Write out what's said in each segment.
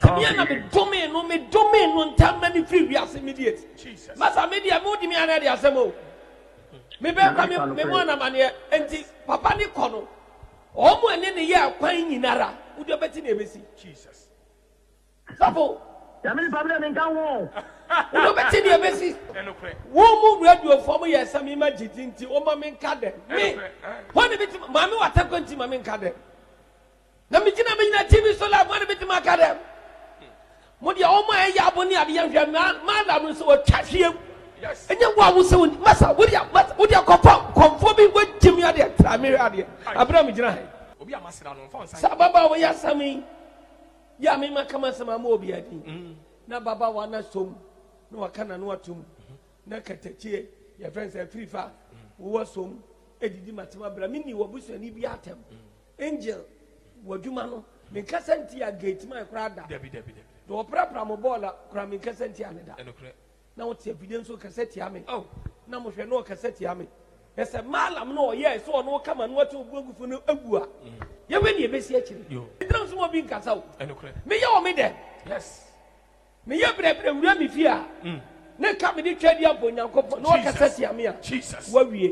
Ɛdeɛ na me domee no me domee no ntɛm na me firi wiase immediate masa me deɛ mo di me anɛ de asɛm o me bɛ kura me me mo anamaneɛ enti papa ne kɔ no wɔn ɛne ne yɛ akwan nyinara wodi ɔbɛti na ebesi sɔfo yàmi nipa mi dɛ mi nka ho wodi ɔbɛti na ebesi wɔn mu radio fɔ mo yɛ ɛsɛ mi ma gyidi nti wɔn ma mi nka dɛ mi wɔn ne mi ti maame wa tɛ kɔ nti ma mi nka dɛ. Na migyina me nyina TV so live ma no betumi aka dɛ mo deɛ wɔn a ɛyɛ abo ne adeɛ nhwɛ maala no nso wɔtwa hwee mu ɛnyɛ wo a wo sɛ wɔn masa wo deɛ masa wo deɛ kɔfa nkɔmfoɔ bi wɔgye mi adeɛ tra mi hwɛ adeɛ abira mi gyina ha yi obi a masra no nfa nsa saa baba a wɔyɛ asam yi yɛ a mi ma kama sɛm ama obi adi mm. na baba wa na som na waka na no atum mm-hmm. na katakyie yɛfrɛ nsɛ firifa mm. wowɔ som edidi matema bra mi ni wɔ busuani bi atɛm. Mm. Angel wɔ adwuma no menkasa nti a gate man koraa da dabi dabi dabi na wɔprapra mo bɔɔl a koraa menkasa nti a ne da ɛnokorɛ na wote afidie nso kasa tia me oh na mohwɛ na ɔkasa tia me na sɛ maalam no ɔyɛɛ sɛ ɔno ɔka ma no ɔte obu agufo no agu a mm. yɛhwɛ ne yɛbɛsi akyiri ɛdina nso ma bi nkasa o ɛnokorɛ meyɛ wɔ me dɛ yes meyɛ brɛbrɛ wura me fie a mm. ne ka mede twa di abɔ nyankopɔn na ɔkasa tia me a wawie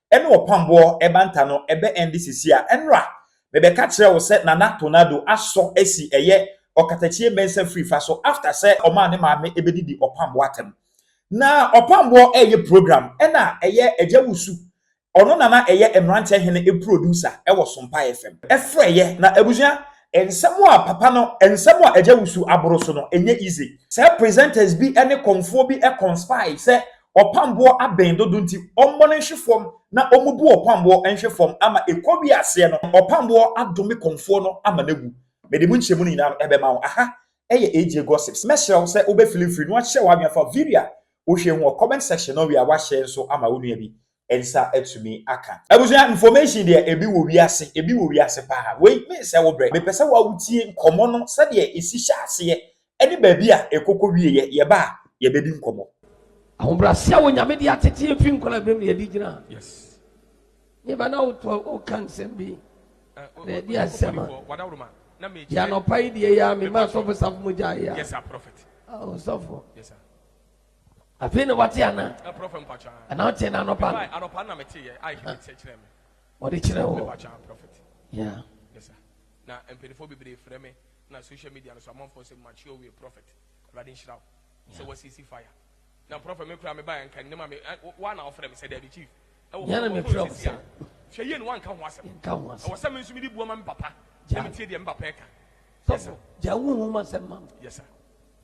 ɛne ɔpamboɔ ɛbanta no ɛbɛ ɛnde sisi a ɛnora mebɛka kyerɛ wo sɛ Nana Tornado asɔ asi ɛyɛ ɔkatakyie mɛnsa firi fa so after sɛ ɔmaa ne maame ɛbɛdidi ɔpamboɔ atɛm na ɔpamboɔ ɛɛyɛ program ɛna ɛyɛ Agya Wusu ɔno na na ɛyɛ Mmranteɛ Hene ɛproducer ɛwɔ Sompae FM ɛfrɛeɛ na abusua nsɛm a papa no nsɛm a Agya Wusu aboro so no ɛnyɛ easy sɛ presenters bi ɛne kɔmfoɔ bi ɛconspire sɛ Ɔpamboɔ abɛn dodo nti ɔmmɔ no nhwe fɔm na ɔmmubu ɔpamboɔ nhwe fɔm ama ɛkɔ wie aseɛ no ɔpamboɔ adome kɔmfoɔ no ama no awu. Mede mu nkyerɛmu no nyinaa no bɛma wo. Aha yɛ AJ Gossips. Mɛsrɛ wo sɛ wobɛfili mfiri na woakyerɛ w'adwene afa video a wohwɛ yi ho wɔ comment section na wowie a woahyɛ nso ama wo nua bi nsa atumi aka. Abusua information deɛ ebi wɔ wiase, ebi wɔ wiase paa. Wei mensɛ wo brɛ. Mepɛ sɛ wo a wotie nkɔmmɔ no sɛdeɛ esi hyɛ aseɛ ɛne baabi a ɛkɔkɔ wieɛ. Yɛba a yɛbɛdi nkɔmmɔ. Ahobrɛase a Onyame de atete yɛn firi nkwadaa berɛm na yɛde gyina ha. Me ba na woto a woka nsɛm bi na ɛde asɛm a. Yɛ anɔpa yi deɛ yɛ a mema asɔfo safo mu gyae yɛ a. Ɔsɔfo. Afei na wate ana? Ɛna woteɛ no anɔpa wɔde kyerɛ wo yeah. na mpanyinfoɔ bebree frɛ me na social media no so amanfoɔ sɛ mature wie prophet awurade nhyira wo sɛ wasisi fire na prophet me kura me ba nka ne ma me wa na ɔfrɛ me sɛ dabi chief ɛwɔ hɔ me frɛ wo sɛ hwɛ yie no wanka ho asɛm nka ho asɛm ɛwɔ sɛ me nso mede bua ma me papa na metie deɛ me papa ɛka sɔfo gya wo ho ma sɛm ma yes sir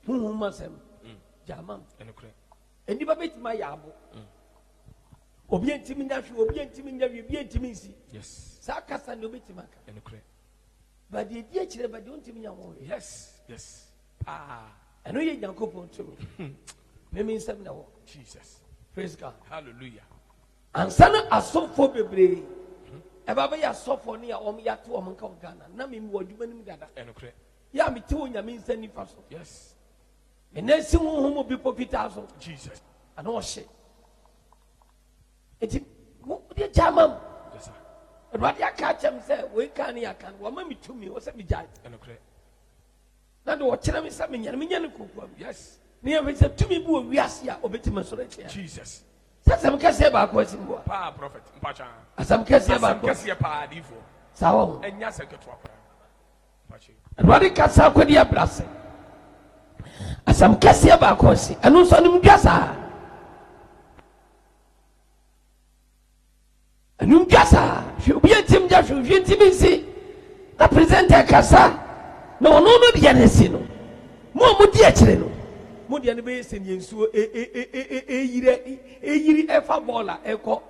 Honhom mu asɛm, gyama m. Nnipa bɛtumi ayɛ abo. Obia ntimi nya hwe, obia ntimi nya wie, obia ntimi nsi. Saa kasa ne obɛtimi aka. But deɛ di akyire ba deɛ ɔntimi nya ho hwe. Yes, yes. Paa. Ɛno yɛ Nyankopɔn tumi. Meme nsɛm na ɛwɔ. Jesus. Praise God. Hallelujah. Ansa na asɔfoɔ bebree ɛba bɛyɛ asɔfoɔ ne a wɔn yɛato wɔn nka wɔ Ghana na meme wɔ adwuma no mu dada. Ɛnokorɛ. Yɛ a mete Onyame nsa nifa so. Yes. Me nan si honhom mu bepɔ fitaa so. Jesus. Ana ɔhye. Enti wode gya ma m. Yes sir. Awurade aka akyɛm sɛ wei kan ne yɛaka no wɔma me tumi wɔ sɛ megyae. Ɛnokorɛ. Na de wɔkyerɛ me sɛ menyane menya ne kokoa mu. Yes. Ne yɛmfɛ sɛ tumi bi wɔ wiase a ɔbɛtumi asɔre atia. Jesus. Sɛ asɛm kɛseɛ baako asi mu a. Paa prɔfɛt mpatwa. Asɛm kɛseɛ baako. Asɛm kɛseɛ paa adiifoɔ. Saa wɔ ho. Ɛnyɛ asɛm ketewa koraa. Awurade kasa akodi abra ase. Asɛm kɛseɛ baako asi. Ɛno nso animdwa saa. Animdwa saa. Hwɛ obi ntim gya hwɛ hwɛ ntim nsi. Na presenter kasa. Na ɔno no deɛ no asi no. Mo a modi akyire no. Mo deɛ no bɛyɛ sɛdeɛ nsuo ɛyiri ɛyiri ɛfa bɔɔl a ɛkɔ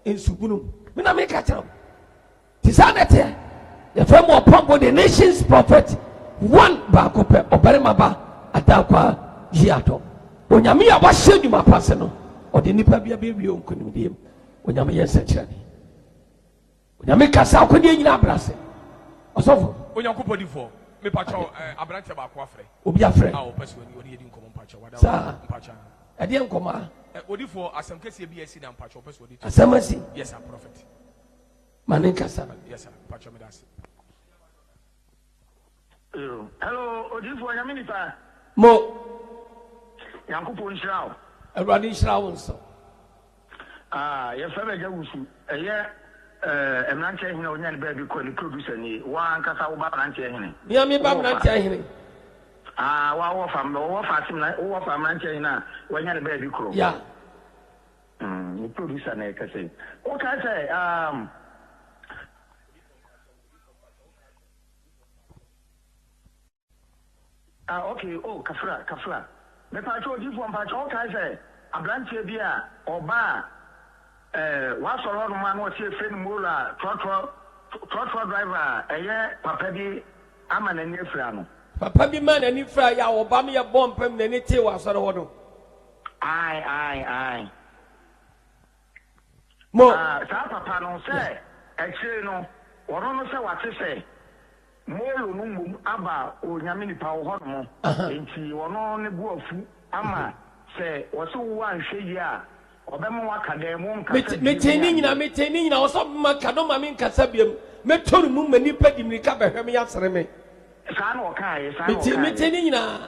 nsubunu mu. Me na meka kyerɛ wo. Te saa na ɛteɛ. Yɛfrɛ mo ɔpɔngo de nations prophet one baako pɛ ɔbarima ba adaakwa yi adɔ. Onyame a wahyɛ nnwuma pa ase no ɔde nipa bi abɛwie wo nkonimdie mu. Onyame yɛ nsɛnkyerɛnne. Onyame kasa akodeɛ nyina abrɛ ase. Ɔsɔfo. Onyankopɔn difoɔ me pakyɛw eh, abranteɛ baako afrɛ. Obi afrɛ. A ɔpɛ sɛ ɔne ɔne yɛdi nkɔmɔ mpakyɛw wada Saa. mpakyɛw. Ɛdeɛ nkɔmɔ a. Eh, odifoɔ asɛm kɛseɛ bi asi na mpakyɛw ɔpɛ sɛ ɔde to. Asɛm asi. Yes sir prophet. Ma ne nkasa. Yes sir mpakyɛw meda ase. Hello odiyifoɔ nyame nipa. Mo. Nyankopɔn nhyira wo. Awurade nhyira wo nso. Ah yɛfrɛ me agya wusu ɛyɛ eh, mmeranteɛ hene a ɔnya ne baabi kɔ ne producer nie wo ankasa wo ba mmeranteɛ hene Mia me ba mmeranteɛ hene ah wa wɔ fa wɔ fa asem na wɔ fa mmeranteɛ hene a wanya ne baabi korɔ yeah. Mm, wo producer na ɛka sɛ. Wo ka sɛ, um. Ah, okay, oh, kafra, kafra. Me pacho odifo mpacho wo ka sɛ abranteɛ bi a ɔba a eh, wasɔre hɔ nom a na ɔsi efrɛ no moro a trɔtrɔ trɔtrɔ driver a ɛyɛ papa bi ama n'ani afira no. Papa bi ma n'ani fira yɛ a ɔba me yɛ bɔ mpam n'ani tee wɔ asɔre hɔ no. Ae ae ae. Mo. Ah saa papa no sɛ akyire no ɔno no sɛ wate sɛ Molo no mmom aba Onyame nipa wo hɔ nom nti ɔno ne bo afu ama sɛ ɔse wo anhwɛ yie a ɔbɛma waka dɛn mo nkasa biem Metee ne nyina metee ne nyina ɔsɛ ɔbɛma ka no ma me nkasa biem mɛtɔ ne mu ma nipa di mmirika bɛhwɛ me asere me. Saa na ɔkaeɛ saa na ɔkaeɛ. Metee ne nyinaa.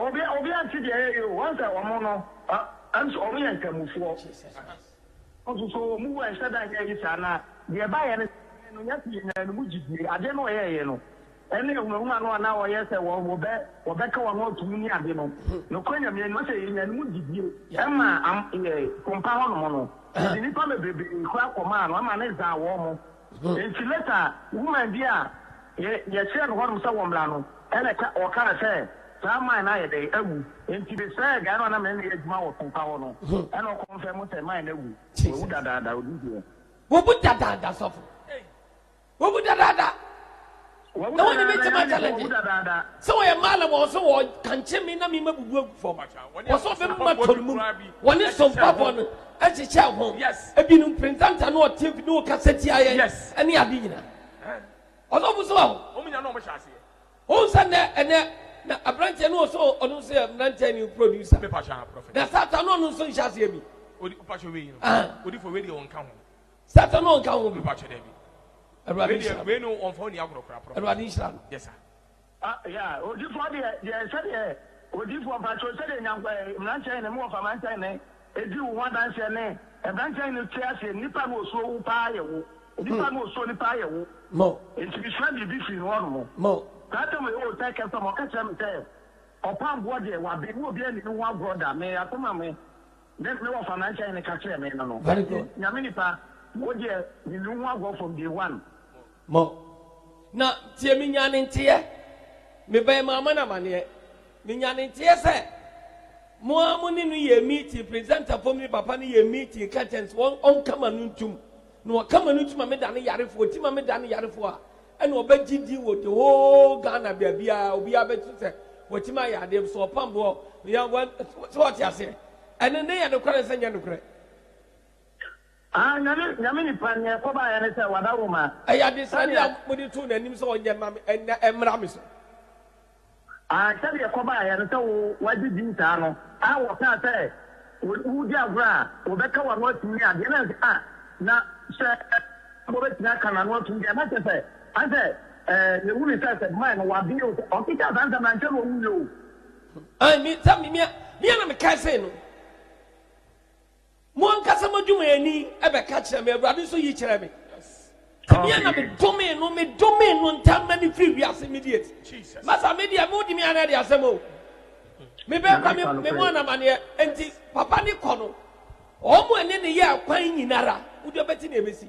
Obi obiara nte deɛ yɛyɛ o wɔn sɛ wɔn no ɛm sɛ wɔn yɛ nkramofoɔ nso so wɔn wɔ nhyɛ da nyɛ yi saa na deɛ ɛba yɛ no sɛ no yɛte yɛ nyinaa no mu gyidie adeɛ no wɔyɛ yɛ no ɛne ahunahuna no anaa wɔyɛ sɛ wɔ wɔbɛ wɔbɛka wɔn atum ne ade no nokorɛ nyamea no sɛ yɛ nyinaa no mu gyidie ɛma am yɛ pompa hɔ nom no yɛde nipa bebrebe kora kɔmaa no ɛma ne zaa wɔn mo Enti later woman bi a yɛ yɛkyerɛɛ no hɔnom sɛ wɔmmra no ɛna ɛka ɔkaa sɛ saa mine no ayɛ dɛn? Awu. Enti mesrɛɛ guy no a na mene no yɛ adwuma wɔ Krupa hɔ no ɛna ɔ confirm sɛ mine no awu. Wawu dadaada, ɔdi deɛ. Wawu dadaada sɔfo. Wawu dadaada. Wɔwu Ɛwɔ ne me dadaada, ntɛm Ghanafo, wɔwu agyalɛgye. dadaada. Sɛ wɔyɛ mmaala mu a, wɔsɛ wɔkankye me na memabubu agu fam. Wɔsɛ ɔbɛmema tɔ no mu. Wɔne sompafoɔ no hyehyɛ ho. Ebinom presenter na ɔte mfi na ɔkasa tia yɛn ne ade nyinaa. Ɔsɔfo so aho. Wohu sɛ nnɛ ɛnɛ na aberanteɛ no ɔsɛ ɔno nso yɛ mmeranteɛ ne producer. Na Satan no ɔno nso nhyɛ aseɛ bi. Ah. Satan no nka ho. Mepakyɛ dabi. Awurade nhyira no. Wei no wɔnfa ɔni agorɔ koraa prɔfɛt. Awurade nhyira no. Yes sir. Ah yeah odifoɔ deɛ deɛ sɛdeɛ odifoɔ mpakyɛw sɛdeɛ nyank eh, mmeranteɛ hene mewɔ fa mmeranteɛ hene edi wo ho adanseɛ ne mmeranteɛ hene te aseɛ nnipa no osuo wo paa yɛ wo nnipa hmm. no osuo ne paa yɛ wo mo nti mesua biribi firi no hɔnom mo saa tam yɛ wɔ sɛ kɛsɛm ɔka kyerɛ me sɛ ɔpamboɔ deɛ wabe ne obi ani ne ho agorɔ da me asɛm a me Dɛn ne wɔfa na nkyɛe no ka kyerɛɛ me no no? Very Enti, good. Nyame nipa, wo deɛ, mennuu ho agorɔ from day one. Mo. Na, tie, menyaa ne nteɛ, mebɛn Maama no amaneɛ, menyaa ne nteɛ sɛ, mo ara mo ne no yɛɛ meeting, presenter fom ne papa no yɛɛ meeting, curtains, wɔn, ɔnkama no ntum, Na wɔka ma no ti ma me dane yarefoɔ, ti ma me dane yarefoɔ a, ɛna ɔbɛgye din wɔ the whole Ghana baabiara, obiara bɛte sɛ watumi ayɛ adeɛ bi, sɛ ɔpam boɔ, yɛ wɛ, sɛ wɔte aseɛ. Ɛno ne yɛ nokorɛ nsɛ nyɛ nokorɛ. Ah nyame nyame nipa neɛ ɛkɔ baayɛ ne sɛ wada wo ma. Ɛyɛ adesrɛdeɛ a mode too n'anim sɛ ɔnyɛ mma me, ɛnnɛ ɛmmra me so. Aane, sɛdeɛ ɛkɔbaeɛ no, sɛ wo wagye din saa no, a wɔkaa sɛ woredi agorɔ a, wɔbɛka w'ano atum ne adeɛ, na a na sɛ wɔbɛtumi aka n'ano atum deɛ, na kyerɛ sɛ, ane sɛ yɛwu no sɛ sɛ mine no wɔabene o, sɛ ɔke kaa saa nsɛm no ankyɛ na ɔwuiɛ o. Aane, me, sɛ me, me a na mekae sei no. Mo ankasa m'adwumayɛni bɛka kyerɛ me, Awurade nso yi kyerɛ me. Ɛneɛ na medomee no, medomee no ntam na ne firi wiase immediate. Masa me deɛ mo de me ana de asɛm o. Mebɛn kwa me me mo anamaneɛ. Enti papa ne kɔ no, wɔn ɛne ne yɛ akwan nyinara, wode bɛte ne ɛbɛsi.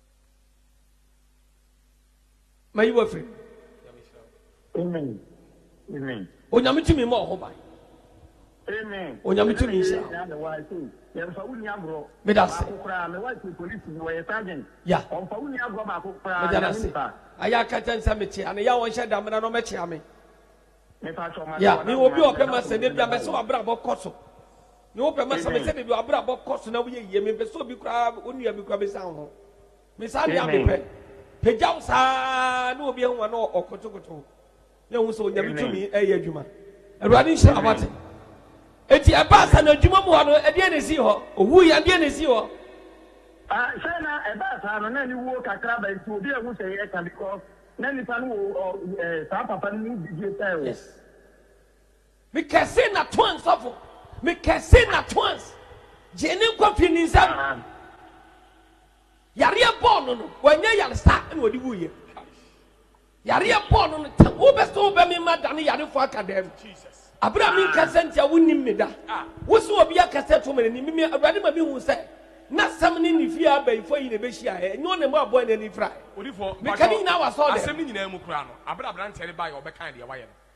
mayi wo afiri Amen. Amen. Onyame tumi ma ɔho ban. Amen. Onyame tumi nhyira wo. Nyame wa se yɛmfa wo ni agorɔ. Meda ase. Baako koraa me wa se polisi bi wɔyɛ sergeant. Ya. Ɔmfa wo ni agorɔ baako koraa Meda nyame ase. nipa. Ayɛ akɛtɛ nsɛ mekyea no. Ya wɔnhyɛ da mmra na ɔmɛkyea me. Me pa kyɛ ɔma Ya, me wɔ obi a ɔpɛ ma sɛ da bi a mɛsɛ w'abrabɔ kɔ so. Me wo pɛ ma sa me sɛ baabi w'abra bɔ kɔ so na wo yɛ yie me mpɛ sɛ obi koraa wo nua bi koraa bɛ sa wo ho me saa deɛ a me pɛ pɛ gya wo saa na obi ahu wa na ɔkotokoto na ehu sɛ onyame tumi ɛyɛ adwuma awurade nhyira wate eti ɛbaa sa na adwuma mu hɔ no ɛdeɛ na esi hɔ owu yɛ ɛdeɛ na esi hɔ. Ah, sɛ na ɛbaa saa no na ne wuo kakra ba nti obi ahu sɛ yɛ ka because na nipa no wɔ eh, saa papa no mu bidie pɛɛ o. Yes. Me kɛse na toans sɔfo. Me kɛse na toans gyee ne nkwa fii ne nsam. Yareɛ bɔɔ no no, wanyɛ yaresa na ɔde wuiɛ. Yareɛ bɔɔ no no, tam wobɛ sɛ wobɛ me ma dane yarefoɔ aka dan mu. Abere a menkasa nti a wonnim me da. Wo sɛ obi akasa ato me n'anim, me Awurade ma mehu sɛ n'asɛm ne ne fie abayifoɔ yi na ɛbɛhyiaeɛ, ɛnyɛ ɔne mmoaboa na ɛne firaeɛ. Meka ne nyinaa wɔ asɔɔdan mu.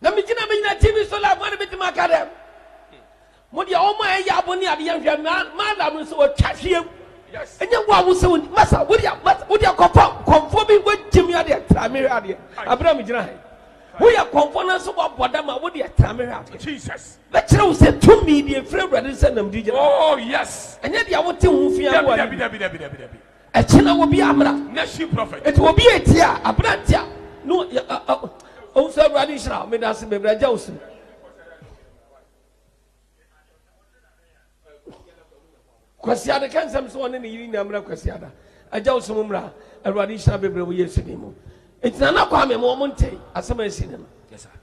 Na migyina me nyina TV so live ma no betumi aka dɛ mo deɛ wɔn a ɛyɛ abo ne adeɛ nhwɛ maala no nso wɔtwa hwee mu ɛnyɛ wo a wo sɛ wɔn masa wo deɛ masa wo deɛ kɔfa kɔnfoɔ bi wɔgye mi adeɛ tra mi hwɛ adeɛ abira mi gyina ha yi wo yɛ kɔnfoɔ no nso wɔabɔ dam a wo deɛ tra mi hwɛ adeɛ jesus bɛkyerɛ wo sɛ tumi deɛ efiri awurade sɛ nam di gyina oh yes ɛnyɛ deɛ wote ho fi aboa dabi dabi dabi dabi dabi Ɛkyɛ na obi amera. Nation prophet. Eti obi yɛ ti a aberanti a no yɛ a a ohun sɛ awurade nhyira me da ase bebree agya osi. Kwasiada ka nsɛm sɛ ɔne ne yiri nyinaa mmra kwasiada agya osi mu mmra awurade nhyira bebree wɔ yesu din mu. Eti na na kwa me mo ɔmo nte asɛm a esi ne no.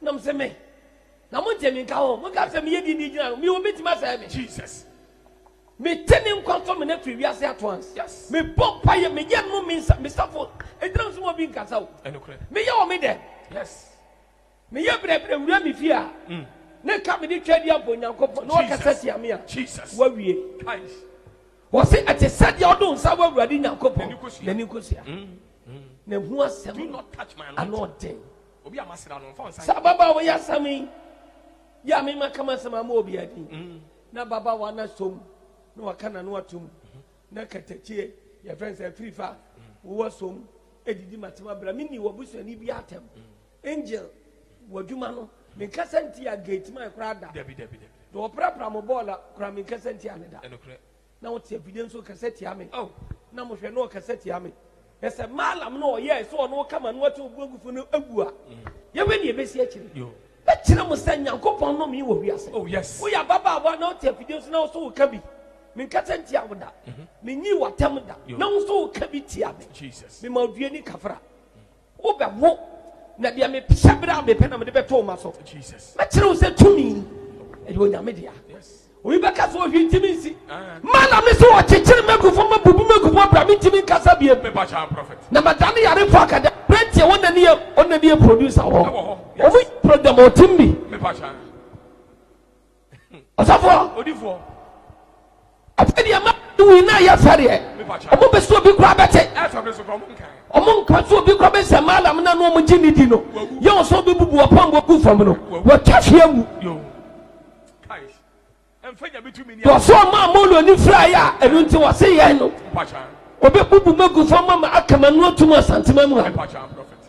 Na ɔse me, na monte me nka ho, monka sɛ meyɛ dini gyina no, me obi tumi asɛe me. Jesus. Mete ne nkwa so mene firi wiase ato ans. Yes. Mebɔ mpaeɛ, meyɛ no me nsa, mesafo, ɛgyina so ma obi nkasa o. Ɛnokorɛ. Meyɛ wɔ me dɛm. Yes. Meyɛ brɛbrɛ wura me fie a, mm. ne ka mede twa di abɔ Nyankopɔn na ɔkasa tia me a, wawie. Christ. wɔse ɛte sɛ deɛ ɔde nsa wɔ awurade nyankopɔn n'ani nkosua na ɛho asɛm ano ɔden Saa ababaawa yi asɛm yi yɛ a mema ka m'asɛm ama obi adi. Na ababaawa no asɔ mu na waka n'ano ato mu. Na katakyie, yɛfrɛ no sɛ afirifa, wowɔ asɔ mu didi m'asɛm abira. Menni w'abusuani biara atɛm. Angel, w'adwuma no, menkasa ntia gate man koraa da. Deɛ wɔprapra mo bɔɔla koraa, menkasa ntia no da. Na ɔte afidie nso kasa tia me. Ao, na mohwɛ, na ɔkasa tia me. Hwɛ sɛ Baalam no a ɔyɛe sɛ ɔno ka ma no ɔte obuagufo no awu a, yɛnhwɛ nea ɛbɛsi akyire. Mɛkyerɛ mo sɛ Nyankopɔn nnome wɔ wiase. Woyɛ ababaawa na wote afidie nso na wo nso woka bi. Menkasa ntia wo da. Mennyii w'atam da na wo nso woka bi tia me. Mema oduani kafra. Wo bɛ wo, na deɛ me psɛ berɛ a me pɛ na mede bɛto wo ma so. Mɛ kyerɛ wo sɛ tumi, ɛyɛ Onyame dea. Obi bɛ ka sɛ ɔhwi ntimi nsi. Ma na me so ɔkyekyere mɛgufo, ma bubu mɛgufo abira me ntimi nkasa bie. Na ma dane yarefo akada. Brentie wɔn na ne yɛ, wɔn na ne yɛ producer wɔ. Wɔn yɛ program ɔtim bi. Ɔsɔfoɔ. Odifoɔ. Afei deɛ ma ne wui na yɛ fɛ deɛ. Ɔmo bɛ so obi kura bɛte. Ɛfɛ mi so kura ɔmo nka. Ɔmo nka so obi kura bɛ nsɛm alam na no ɔmo gye ne di no. Yɛ ɔsɔ obi bubu ɔpam bɔ gu fam no. Wɔtwa fie wu. Yo. Kais. Ɛnfɛ nya bi tu mi ni. Wɔsɔ ɔmo a mo lɔ ni fira yɛ a ɛnu nti wɔsi yɛn no. Mpacha. Ɔbɛ bubu mɛ gu fam ma ma akama nu otum asantema mu ha. Mpacha prɔfɛt.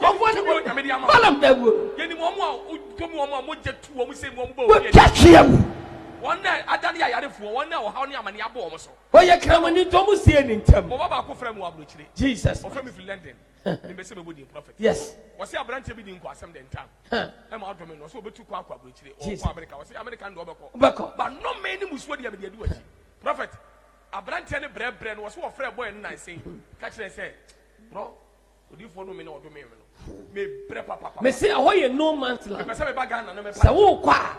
Kɔmfoɔ ne wɔn Balaam dawuro no. Yɛnim wɔn a wɔdɔ mu, wɔn a mogya tu wɔn sɛ wɔn bɔ obi ani. Wɔtwa tweaa mu. Wɔn a adane yɛ ayarefoɔ, wɔn a ɔhaw ne amaneɛ abɔ wɔn so. Wɔyɛ kramoni nti wɔn sie ne ntam. Wɔba baako frɛ me wɔ aburokyire. Jesus. Wɔfrɛ me firi London. Mempɛ sɛ mɛbɔ din prophet. Yes. Wɔse aberanteɛ bi di nkoasɛm dɛ ntam. Ɛma ɔdɔ me no. Ɔse ɔbɛtu kwan akɔ aburokyire. Ɔkɔ America. Ɔse America no deɛ ɔbɛkɔ. Ɔbɛkɔ. But nnome ne mmusuo deɛ mede adi w'akyi. Prophet, aberanteɛ no brɛbrɛ no, ɔse ɔfrɛɛ boy no nansa yi ka kyerɛɛ sɛ, Bro, Odiyifoɔ no me na ɔdomee me no, mebrɛ papapapa. Mese ɛhɔ yɛ no man's land. Mepɛ sɛ meba Ghana na mɛpa. Sɛ wokɔ a,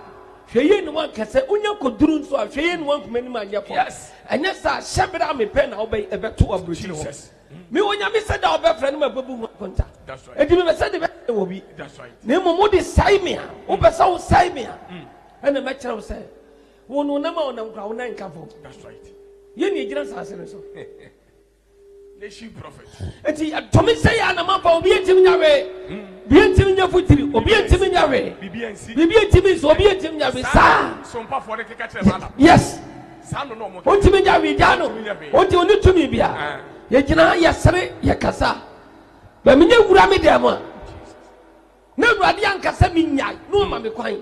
hwɛ yie na woanka sɛ wonya kɔduru nso a, hwɛ yie na woankum anim anyɛ fam. Yes. Ɛnyɛ saa a, hyɛ berɛ a mepɛ na wobɛ ɛbɛto aburokyire hɔ. Jesus. Mm. Me Onyame sɛ da a wobɛfrɛ no mɛbɛbu ho akonta. That's right. Enti mepɛ sɛ de bɛsɛ ne wɔ bi. That's right. Na mmom wode sɛe me a, wopɛ sɛ wosɛe me a, ɛna mɛkyerɛ wo sɛ wo no wonam a wonam kora wo nan nka fam. That's right. Yɛn na ɛgyina asase no so. nti ɛtumi sɛ yɛ anam aba obi ntumi nya hwee obi ntumi nya futiri obi ntumi nya hwee biribi ntumi nso obi ntumi nya hwee saa yes ntumi nya hwee gyaa no ɔnti ɔne tumi bia yɛgyina ha yɛsere yɛkasa bɛmi nyɛ wura me dɛm a na awurade ankasa menyae na ɔma me kwan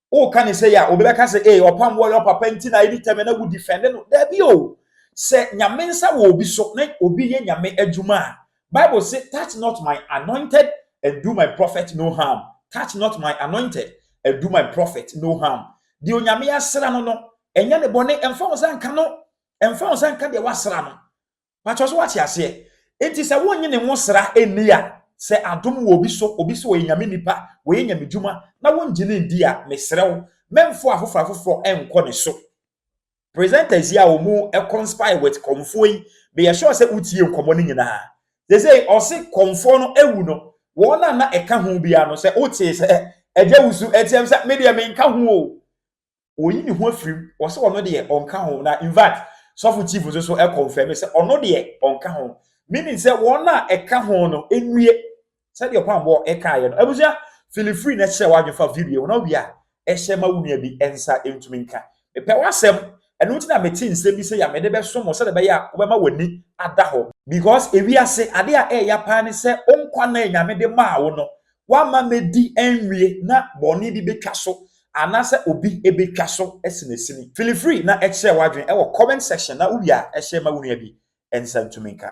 woka ne sɛ yɛ a obi bɛka sɛ ee ɔpam wɔ yɛ papa nti na ɛni tɛmɛ na wodi fɛnde no daabi o sɛ nyame nsa wɔ obi so na obi yɛ nyame adwuma a bible say touch not my anointed and do my prophet no harm touch not my anointed and do my prophet no harm deɛ onyame asra no no ɛnyɛ ne bɔne ɛmfa wo nsa nka no ɛmfa wo nsa nka deɛ wasra no Pakyɛ so wate aseɛ? Enti sɛ wonnye ne nwosra nni a, sɛ adom wɔ obi so, obi se ɔyɛ Nyame nipa, wayɛ Nyame dwuma, na wongye no nndi a, mesrɛ wo, mɛmfo afoforɔ afoforɔ nkɔ ne so. Presenters yi a wɔn conspire with kɔmfoɔ yi, meyɛ sure sɛ wotiee nkɔmmɔ no nyinaa. Sesei ɔse kɔmfoɔ no awu no, wɔn a na ɛka ho biara no, sɛ wotee sɛ agya wusu, ɛteɛm sɛ, medeɛ menka ho o. oyi ne ho afiri mu ɔsɛ ɔno deɛ ɔnka ho na infact sɔfo chief nso so ɛkɔnfɛm sɛ ɔno deɛ ɔnka ho meaning sɛ wɔn a ɛka ho no nnue sɛdeɛ ɔpamboɔ ɛkaeɛ no abusua fili free na kyerɛ w'adwene fa video ho na wie a ɛhyɛ ma wo nua bi nsa ntumi nka mepɛ w'asɛm ɛno nti na mete nsɛm bi sɛ yɛ a mede bɛso mo sɛdeɛ ɛbɛyɛ a wobɛma w'ani ada hɔ because ewiase ade a ɛyɛ paa ne sɛ wo nkwa na nyame de maa wo no Woamma madi anwie na bɔne bi betwa so anaasɛ obi betwa so asinasini. Feel free na kyerɛ w'adwene wɔ comment section na wowie a hyɛ ma wo nua bi nsa ntumi nka.